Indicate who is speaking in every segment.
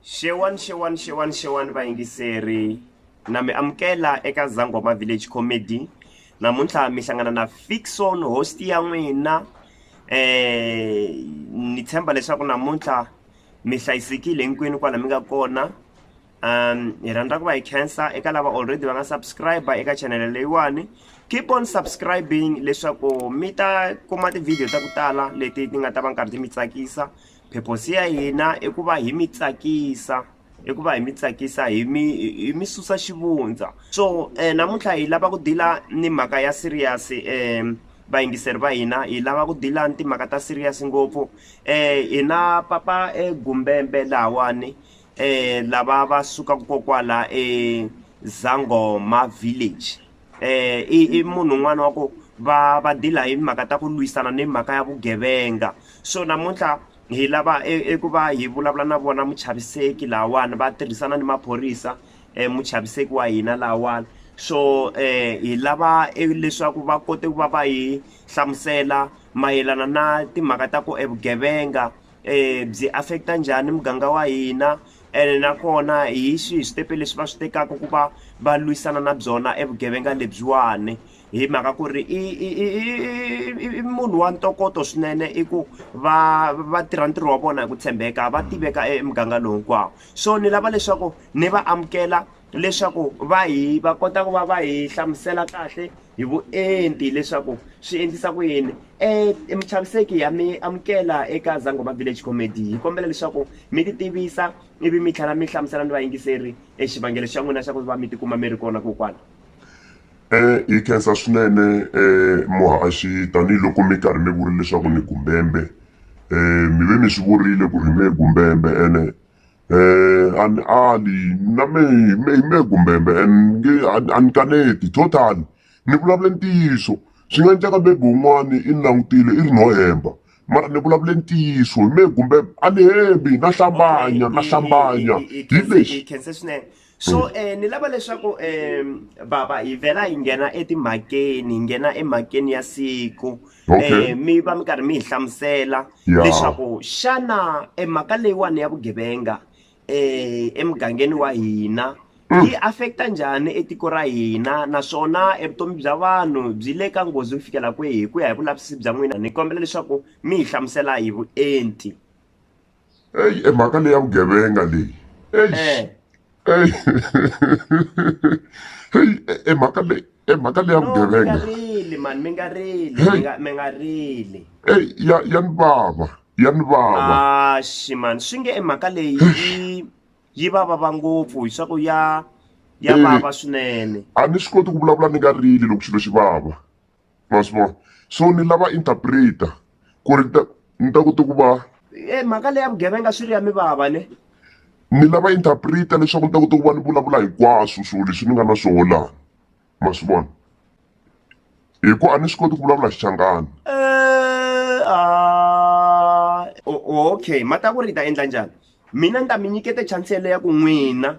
Speaker 1: Xewani xewani xewani xewani vayingiseri na mi amukela eka Zangoma Village Comedy namuntlha mi hlangana na Fixon host ya n'wina eh ni tshemba leswaku namuntlha mi hlayisekile hinkwenu kwala mi nga kona um hi rhandza ku va hi khensa eka lava already va nga subscribe eka chanele leyiwani keep on subscribing leswaku mi ta kuma ti-video ta ku tala leti ti nga ta va nkarhi ti mi tsakisa Purpose ya hina i ku va hi mi tsakisa i ku va hi mi tsakisa hi mi hi mi susa xivundza so namuntlha hi lava ku deal-a ni mhaka ya serious vayingiseri va hina hi lava ku deal-a ni timhaka ta serious ngopfu hi na papa egumbembe lahawani lava va sukaka kokwala eZangoma village. i munhu un'wana wa ku va va dila hi mhaka ta ku lwisana ni mhaka ya vugevenga so namuntlha hi lava eku va hi vulavula na vona muchaviseki lawani va tirhisana ni maphorisa um muchaviseki wa hina lawani so um hi lava e, leswaku va kote ku va va hi hlamusela mayelana na timhaka ta ku evugevenga byi affect-a njhani muganga wa hina ene nakona hi swihi switepe leswi va swi tekaka ku va va lwisana na byona e vugevenga lebyiwani hi mhaka ku ri i i i i i i munhu wa ntokoto swinene i ku va va tirha ntirho wa vona hi ku tshembeka va tiveka emuganga lowu hinkwawo so ni lava leswaku ni va amukela leswaku va hi va kota ku va va hi hlamusela kahle hi vuenti leswaku swi endlisa ku yini um muchaviseki ya mi amukela eka zangoma village comedy hi kombela leswaku mi ti tivisa ivi mi tlhela mi hlamusela ni vayingiseri e xivangelo xa n'wina xa ku va mi tikuma mi ri kona kokwana um
Speaker 2: hi khensa swinene um muhaxi tanihiloko mi karhi mi vurile leswaku ni gumbembe um mi ve mi swi vurile ku ri hi me gumbembe ene a ni ali na me me me kumbe me nge a ni kaneti total ni vulavule ntiyiso swi nga endleka maybe wun'wani i ni langutile i ri no hemba mara ni vulavule ntiyiso hi me kumbe a ni hembi na hlambanya na hlambanya hi lexi. so
Speaker 1: um ni lava leswaku um baba hi vhela hi nghena etimhakeni hi nghena emhakeni ya siku um mi va mi karhi mi hi hlamusela leswaku xana emhaka leyiwani ya vugevenga um emugangeni wa hina mm. yi affecta njhani etiko ra hina naswona evutomi bya vanhu byi le ka nghozi ku fikela kwihi hi ku ya hi vulavisisi bya n'wina ni kombela leswaku mi hi hlamusela hi vuenti
Speaker 2: eyi e mhaka leyi ya vugevenga leyi eyi eh. eyi heyi e, e mhaka leyi e mhaka leyi ya vugevenga rili mani mi nga
Speaker 1: rili mi nga rili eyi ya
Speaker 2: ya ni vava ya ni vava axi
Speaker 1: mani swi nge e mhaka leyi yi yi va vava ngopfu hi swa ku ya ya vava swinene a ni swi koti ku vulavula
Speaker 2: ni nga rili loko xilo xi vava ma swi vona so ni lava interpreter ku ri ta ni ta kota ku va e mhaka leya
Speaker 1: vugevenga swi ri ya mi vava ne ni lava
Speaker 2: interpreter leswaku ni ta kota ku va ni vulavula hinkwaswo swilo leswi ni nga na swona laha ma swi vona hi ku a ni swi koti ku vulavula xichangani
Speaker 1: okay mhaka ku ri hi ta endla njhani mina ni ta mi nyikete chance yeleyo ya ku n'wina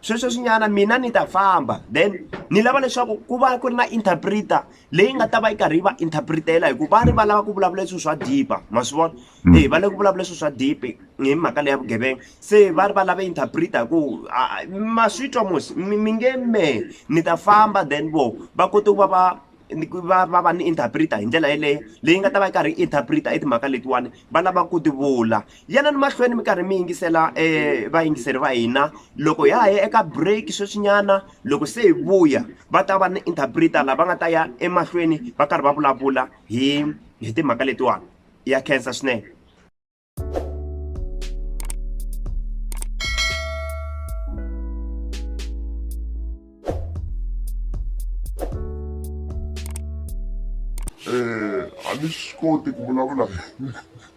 Speaker 1: sweswo swinyana mina ni ta famba then ni lava leswaku ku va ku ri na interpreter leyi nga ta va yi karhi yi va interpretela hikuva va ri va lava ku vulavula leswi swa dipa ma swi vona mm. e va lava ku vulavula leswi swa dipe hi mhaka leya vugevenga se va ri va lava interpreter hi ku ma swi twa mosi mi nge me ni ta famba then vo va kote ku va va va va va ni interpreter hi ndlela yeleyo leyi nga ta va yi karhi yi interpreter i timhaka letiwani va lava ku ti vula Yanani mahlweni mi karhi mi yingisela eh, vayingiseri va hina loko hi ha ya eka break sweswinyana loko se hi vuya va ta va ni interpreter lava nga ta ya emahlweni va karhi va vulavula hi hi timhaka letiwani ya khensa swinene
Speaker 2: eh, a ni swi koti ku vulavula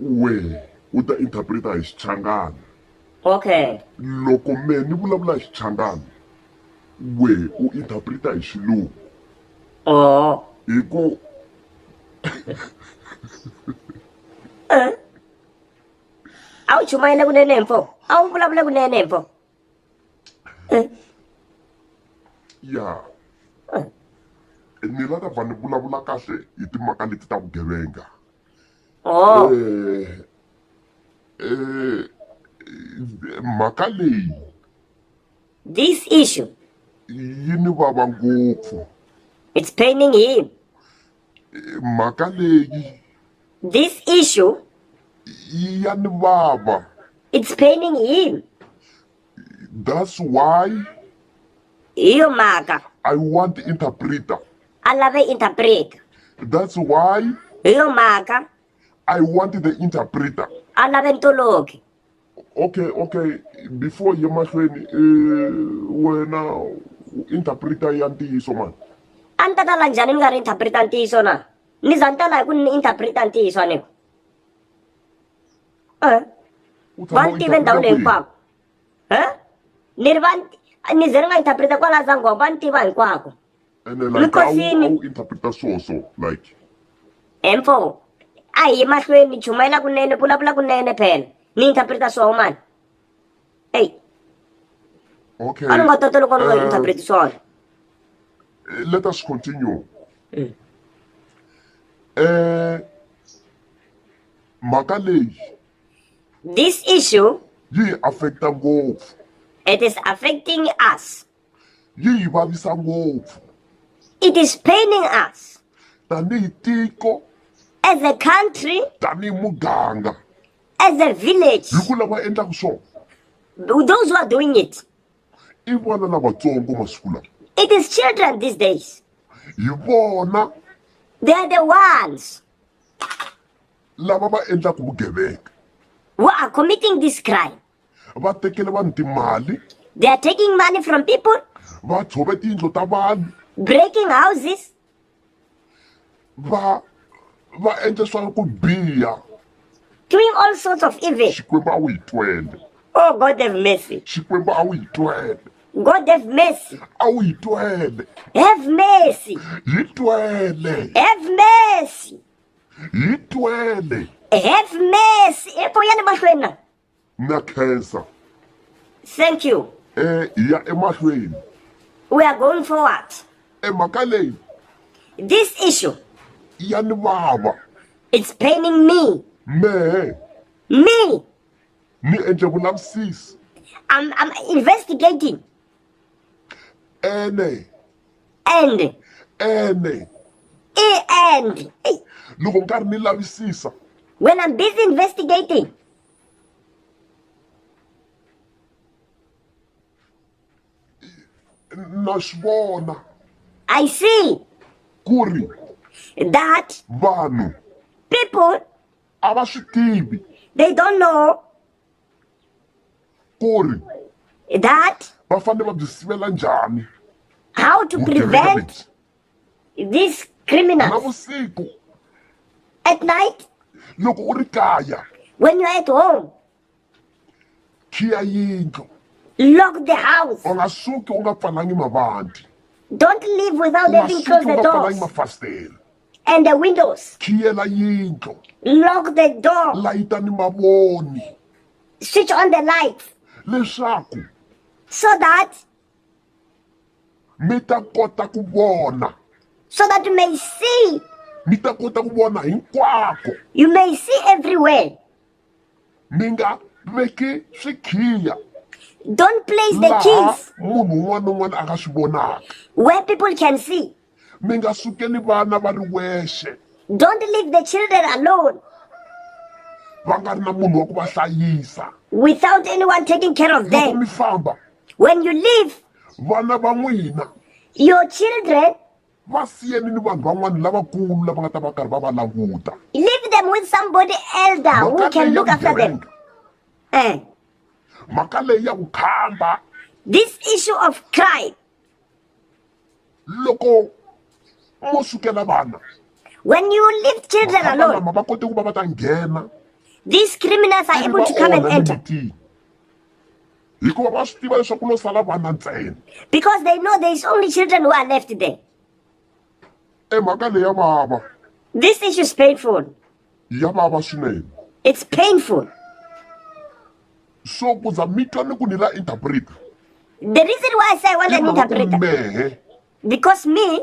Speaker 2: wehe u ta interpreta hi xichangana okay
Speaker 3: loko me
Speaker 2: ni vulavula hi xichangana wehe u interpreta hi xilungu oh
Speaker 3: hi ku a wu chumayela kunene mfo a wu vulavula kunene mfo
Speaker 2: ya ni la ta va ni vulavula kahle hi timhaka leti ta vugevenga
Speaker 3: Oh. Eh,
Speaker 2: eh, mhaka leyi
Speaker 3: this issue yi ni
Speaker 2: vava ngopfu it's
Speaker 3: paining him eh,
Speaker 2: mhaka leyi this
Speaker 3: issue yi
Speaker 2: ya ni vava it's paining
Speaker 3: him
Speaker 2: That's why. Hi
Speaker 3: yo mhaka. I want
Speaker 2: interpreter. A lave
Speaker 3: interpreter. That's
Speaker 2: why. Hi yo mhaka.
Speaker 3: I want
Speaker 2: the interpreter. A lave ntoloki.
Speaker 3: Okay,
Speaker 2: okay. Before ye mahlweni eh wena interpreter ya ntiyiso mani. A ni ta tala
Speaker 3: njhani ni nga ri interpreter ntiyiso na? Ni za ni tala hi ku ni interpreter ntiyiso a ni ku. vanhu tive ndhawu leyi hinkwako ni ri va ni ze ni nga interpreta kwala zangoma va ni tiva hinkwako mikosini
Speaker 2: emfo
Speaker 3: a hi mahlweni chumayela kunene vulavula kunene phela ni interpreta swoho mani eyi
Speaker 2: okay. a ni nga tata loko
Speaker 3: ni nga eh, interpreti swona
Speaker 2: eh, let us continue mm. eh mhaka leyi this
Speaker 3: issue yi hi affecta
Speaker 2: ngopfu it is
Speaker 3: affecting us yi hi
Speaker 2: vavisa ngopfu it is
Speaker 3: paining us tanihi
Speaker 2: tiko as a
Speaker 3: country tanihi muganga
Speaker 2: as a
Speaker 3: village hi ku lava endlaka
Speaker 2: swona those
Speaker 3: who are doing it i vana
Speaker 2: lavatsongo masiku lawa it is children
Speaker 3: these days hi vona
Speaker 2: they are the
Speaker 3: ones
Speaker 2: lava va endlaka vugevenga who are
Speaker 3: committing this crime va tekele
Speaker 2: vanhu timali they are taking
Speaker 3: money from people va tshove
Speaker 2: tiyindlo ta vanhu breaking houses
Speaker 3: va
Speaker 2: va endle swa ku biha doing
Speaker 3: all sorts of evil xikwembu a wu yi twele
Speaker 2: oh god have
Speaker 3: mercy xikwembu a wu yi
Speaker 2: twele God have
Speaker 3: mercy. A wu yi twele.
Speaker 2: Have mercy.
Speaker 3: Yi twele.
Speaker 2: Have mercy.
Speaker 3: Yi
Speaker 2: twele. Have
Speaker 3: mercy. Epo ya ni mahlweni na. Na khensa.
Speaker 2: Thank
Speaker 3: you. Eh ya
Speaker 2: emahlweni. We are
Speaker 3: going forward. Emhaka leyi.
Speaker 2: This
Speaker 3: issue. Ya ni
Speaker 2: vava. It's paining
Speaker 3: me. Me.
Speaker 2: Me.
Speaker 3: ni
Speaker 2: endle vulavisisi I'm, I'm
Speaker 3: investigating
Speaker 2: ene and
Speaker 3: ene i
Speaker 2: and Ey, loko ni karhi ni lavisisa when I'm busy
Speaker 3: investigating
Speaker 2: na swi vona I
Speaker 3: see ku ri
Speaker 2: that
Speaker 3: vanhu
Speaker 2: people
Speaker 3: a va swi
Speaker 2: tivi they don't know ku ri that va
Speaker 3: fanele va byi
Speaker 2: sivela njhani how to
Speaker 3: prevent
Speaker 2: this criminal
Speaker 3: navusiku at night loko u ri
Speaker 2: kaya when you're at
Speaker 3: home
Speaker 2: khiya yindlu Lock the
Speaker 3: house. u nga suki u nga
Speaker 2: pfalangi mavandhi Don't leave
Speaker 3: u without nga having suki
Speaker 2: closed u
Speaker 3: the nga pfalangi
Speaker 2: doors mafasitela and the
Speaker 3: windows. khiyela yindlu
Speaker 2: Lock the
Speaker 3: door. layita ni mavoni
Speaker 2: Switch
Speaker 3: on the lights leswaku
Speaker 2: so
Speaker 3: that
Speaker 2: mi ta kota ku vona so that you may
Speaker 3: see mi ta kota
Speaker 2: ku vona hinkwako you may see
Speaker 3: everywhere
Speaker 2: mi nga veki swikhiya don't
Speaker 3: place the keys munhu
Speaker 2: un'wana na
Speaker 3: un'wana a
Speaker 2: nga swi vonaka where people can
Speaker 3: see mi nga sukeli
Speaker 2: vana va ri wexe don't leave the
Speaker 3: children alone
Speaker 2: va nga ri na munhu wa ku va hlayisa without anyone
Speaker 3: taking care of them mi famba
Speaker 2: when you leave
Speaker 3: vana va
Speaker 2: n'wina your
Speaker 3: children Va siyeni
Speaker 2: ni vanhu van'wana lavakulu lava nga ta va karhi va va languta. Leave them with
Speaker 3: somebody elder who can look after
Speaker 2: them.
Speaker 3: Eh.
Speaker 2: Mhaka leyi ya ku khamba. This
Speaker 3: issue of crime. Loko
Speaker 2: mo sukela vana. When you
Speaker 3: leave children alone. Va kote ku va
Speaker 2: va ta nghena. These
Speaker 3: criminals are able to come and
Speaker 2: enter. Hikuva va swi tiva leswaku ku lo sala vana ntsena. Because they know there
Speaker 3: is only children who are left there.
Speaker 2: E mhaka leyi ya vava. This issue is
Speaker 3: painful. Ya vava
Speaker 2: swinene. It's painful. So ku za mi twa ni ku ni la interpreter. The reason
Speaker 3: why I say I want an interpreter.
Speaker 2: Because me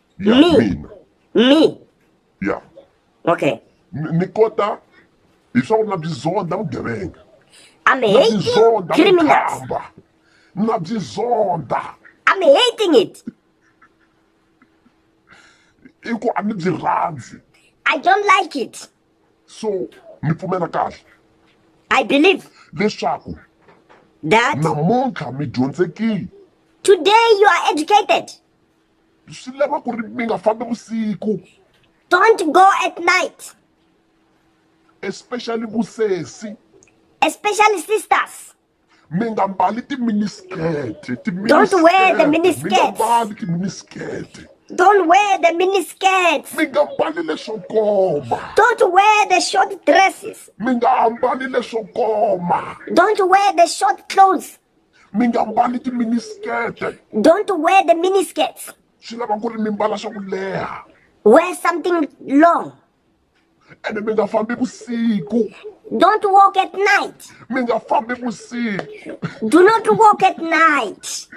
Speaker 3: ya Mi. mina mi ya
Speaker 2: okay
Speaker 3: ni ni kota
Speaker 2: hi swa ku na byi zonda vugevenga i'm na byi hating
Speaker 3: zonda
Speaker 2: criminals vukhamba na byi zonda i'm hating
Speaker 3: it
Speaker 2: i ku a ni byi rhandzi i don't like
Speaker 3: it so
Speaker 2: mi pfumela kahle i
Speaker 3: believe leswaku
Speaker 2: that
Speaker 3: namuntlha mi
Speaker 2: dyondzekile today
Speaker 3: you are educated swi
Speaker 2: lava ku ri mi nga fambi vusiku don't
Speaker 3: go at night especially
Speaker 2: vusesi especially
Speaker 3: sisters mi nga
Speaker 2: mbali timiniskete don't wear
Speaker 3: the miniskirts mbali
Speaker 2: timiniskete Don't wear
Speaker 3: the miniskirts. Mi nga mbali leswo
Speaker 2: koma. Don't wear the
Speaker 3: short dresses. Mi nga ambali
Speaker 2: leswo koma. Don't wear the
Speaker 3: short clothes. mi nga mbali
Speaker 2: timinisikete Don't wear
Speaker 3: the miniskirts. swi lava ku ri mi
Speaker 2: mbala swa ku leha Wear something
Speaker 3: long.
Speaker 2: ene mi nga fambi vusiku Don't walk
Speaker 3: at night. mi nga fambi
Speaker 2: vusiku Do not
Speaker 3: walk at night.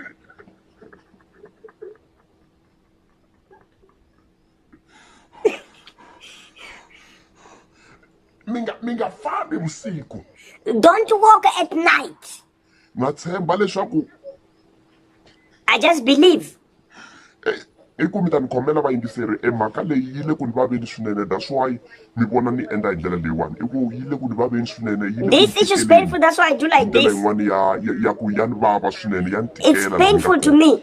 Speaker 2: mi nga mi nga fambi vusiku Don't walk
Speaker 3: at night. na tshemba
Speaker 2: leswaku
Speaker 3: I just believe.
Speaker 2: i ku mi ta ni khomela vayingiseri e mhaka leyi yi le ku ni vaveni swinene that's why mi vona ni endla hi ndlela leyiwani i ku yi le ku ni vaveni swinene yi le ku This ni issue is tikeleni. painful. That's
Speaker 3: why I do like ndlela this. yin'wani ya ya-
Speaker 2: ya
Speaker 3: ku
Speaker 2: ya ni vava swinene ya ni It's tikela painful to
Speaker 3: me.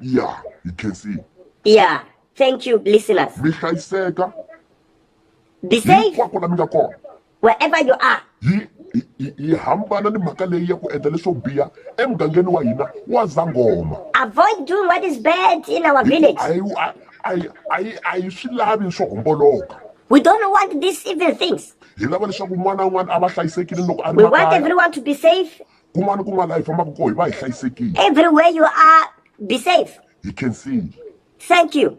Speaker 3: ya
Speaker 2: hi khensile ya
Speaker 3: thank you listeners mi hlayiseka be safe hinkwako la mi nga kona
Speaker 2: wherever you are
Speaker 3: yi yi- yi
Speaker 2: hambana ni mhaka leyi ya ku endla leswo biha emugangeni wa hina wa zangoma avoid doing what
Speaker 3: is bad in our village a yi a- a yi- a
Speaker 2: yi a yi swi lavi swo homboloka we don't want
Speaker 3: these evil things hi lava leswaku un'wana
Speaker 2: na un'wana a va hlayisekile loko a ri we want makaya everyone to be
Speaker 3: safe kun'wana ni kun'wana laha hi
Speaker 2: fambaka kona hi va hi hlayisekile everywhere
Speaker 3: you
Speaker 2: are
Speaker 3: be
Speaker 2: safe
Speaker 3: hi
Speaker 2: khensile thank
Speaker 3: you.